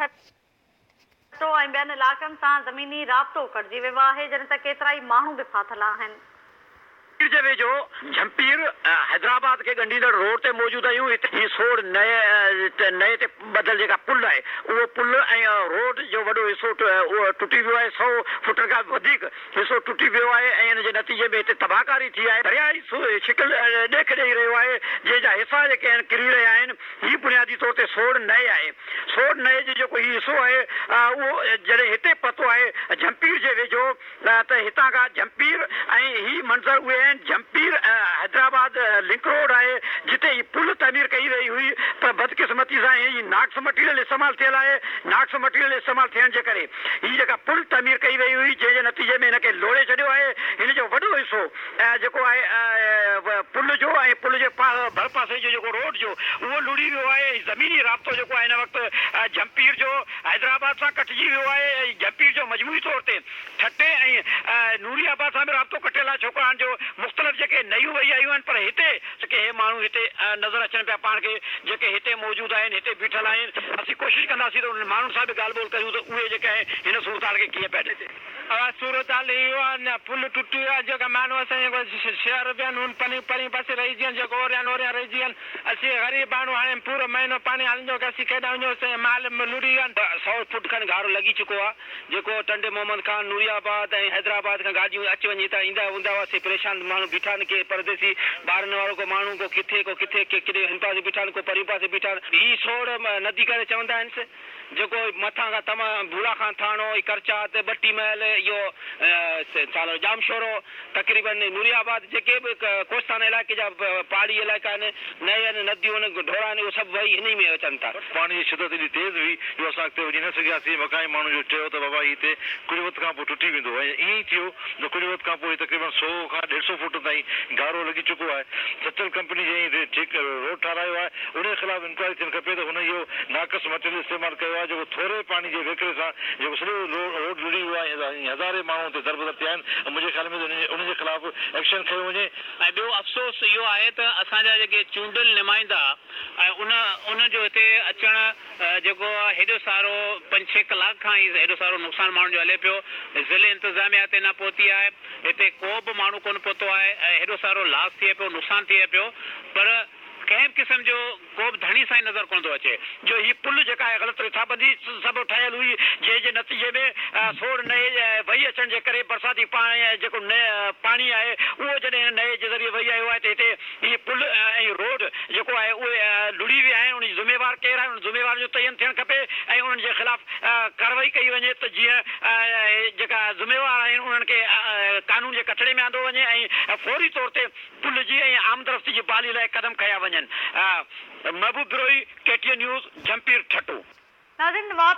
ٺٽو ۽ ٻين علائقن سان زميني رابطو ڪٽجي ويو آهي، جڏهن ته ڪيترائي ماڻهو به ڦاٿل آهن. پير جي ويجهو جهمپير حيدرآباد کي ڳنڍيندڙ روڊ تي موجود آهيون. هي سوڙ نئي تي ٻڌل جيڪا پل آهي اهو پل ۽ روڊ جو وڏو حصو ٽٽي ويو آهي. سؤ فٽن کان به وڌيڪ حصو ٽٽي پيو آهي ۽ ان جي نتيجي ۾ هتي تباهڪاري ٿي آهي. درياء هي شڪل ڏيک ڏئي رهيو آهي، جنهن جا حصا جيڪي آهن ڪري رهيا آهن. هي بنيادي طور تي سوڙهه نئي آهي. سوڙهه نئي جو جيڪو هي حصو آهي اهو جڏهن هتي پهتو آهي جهمپير جي ويجهو ته هتان کان جهمپير ۽ هي منظر اهي آهن جهمپير حيدرآباد لنڪ روڊ آهي جتي هي پل تعمير ڪئي وئي هئي پر بدقسمتي سان هي ناقص مٽيريل استعمال ٿيل آهي. ناقص مٽيريل استعمال ٿيڻ جي ڪري. هي جيڪا پل تعمير ڪئي وئي هئي جنهن جي نتيجي ۾ هن کي لوڙهي ڇڏيو آهي هن جو وڏو حصو جيڪو آهي پل جو ۽ پل جي ڀر پاسي جو جيڪو روڊ جو اهو لڙهي ويو آهي ۽ زميني رابطو جيڪو آهي هن وقت جهمپير جو حيدرآباد سان ڪٽجي ويو آهي ۽ جهمپير جو مجموعي طور تي ٺٽي ۽ نوري آباد سان به رابطو ڪٽيل آهي ڇوڪرهاڻ جو مختلف جيڪي نيون وهي آيون آهن پر هتي ڪي هي ماڻهو هتي نظر اچن پيا پاڻ کي جيڪي هتي موجود آهن هتي بيٺل آهن اسين ڪوشش ڪنداسين ته انهن ماڻهن سان به ڳالهه ٻولهه ڪريون ته اهي جيڪي آهن هن صورتحال کي ڪيئن پيا ڏسن. اها صورتحال اهو آهي اڃا پل ٽٽي ويو آهي جيڪا ماڻهو اسان جي جيڪو شهر به آهن هن پني پرين پاسي رهجي ويا آهن جيڪو اوريان اوريان رهجي ويا آهن اسين غريب ماڻهو هاڻي پورو مهينو پاڻي هلندو ڪياسين ڪيڏانهن وڃون اسان جا مال لڙهي ويا آهن. سؤ فوٽ کن گهارو لڳي چڪو آهي جيڪو ٽنڊي محمد خان، نوري آباد ۽ حيدرآباد کان گاڏيون اچ وڃ هتان ايندا هوندا هئا، سي پريشان ماڻهو بيٺا آهن، ڪي پرديسي ٻارن وارو ڪو ماڻهو، ڪو ڪٿي ڪو ڪٿي، ڪي ڪيڏي هن پاسي بيٺا آهن، ڪو پرين پاسي بيٺا آهن. هي سوڙ ندي ڪري چوندا آهنس، جيڪو مٿان کان تمام ڀولا خان ٿاڻو، هي ڪرچات، ٻٽي محل، اهو ڇا نالو ڄامشورو، تقريبن نوري آباد جيڪي به ڪوستان علائقي جا پهاڙي علائقا آهن، نهين، نديون، ڍورا آهن، اهي سڀ وهي هن ئي ۾ اچن ٿا. پاڻي جي شدت ايڏي تيز هئي جو اسان اڳتي وڃي نه سگهياسين. مقامي ماڻهن جو چيو ته بابا هي هتي ڪجهه وقت کان پوء ٽٽي ويندو ۽ ائين ئي ٿيو ته ڪجهه وقت کان پوء هي تقريبن سؤ کان ڏيڍ سؤ فوٽن تائين گهارو لڳي چڪو آهي. سچل ڪمپني جنهن هي روڊ ٺهرايو آهي، انهيء خلاف انڪوائري ٿيڻ کپي ته هن اهو ناقص مٽيريل استعمال ڪيو آهي جيڪو ٿوري پاڻي جي وهڪري سان جيڪو سڄو روڊ لڙهي ويو آهي ۽ هزارين ماڻهو اتي دربدر ٿيا آهن ۽ منهنجي خيال ۾ ته انهن جي خلاف ايڪشن کنيو وڃي ۽ ٻيو افسوس اهو آهي ته اسان جا جيڪي چونڊيل نمائندا ۽ انهن جو هتي اچڻ جيڪو هيڏو سارو پنج ڇهه ڪلاڪ کان هي هيڏو سارو نقصان ماڻهن جو هلي پيو ضلعي انتظاميا هتي نه پهتي آهي هتي ڪو به ماڻهو ڪونه پهتو آهي ۽ هيڏو سارو لاس ٿئي پيو نقصان ٿئي پيو پر ڪنهن به قسم جو ڪو به ڌڻي سائين نظر ڪونه ٿو اچي جو هي پل جيڪا آهي غلط رٿابندي سبب ٺهيل هئي جنهن جي نتيجي ۾ سوڙهه نئي وهي اچڻ جي ڪري برساتي پاڻي ۽ جيڪو پاڻي آهي اهو جڏهن هن نئي جي ذريعي وهي آيو آهي ته هتي هي پل ۽ روڊ جيڪو آهي اهي لڙهي ويا آهن ان جي ذميوار ڪير آهي انهن ذميوارن جو تعين ٿيڻ کپي ۽ انهن جي خلاف ڪاروائي ڪئي وڃي ته جيئن جيڪا ذميوار آهن انهن کي قانون جي ڪٽهڙي ۾ آندو وڃي ۽ فوري طور تي پل جي ۽ آمدرفتي جي بحالي لاء قدم کنيا وڃن، Mehboob Brohi, K T N news, Jhimpir, Thatta. ناظرين نواب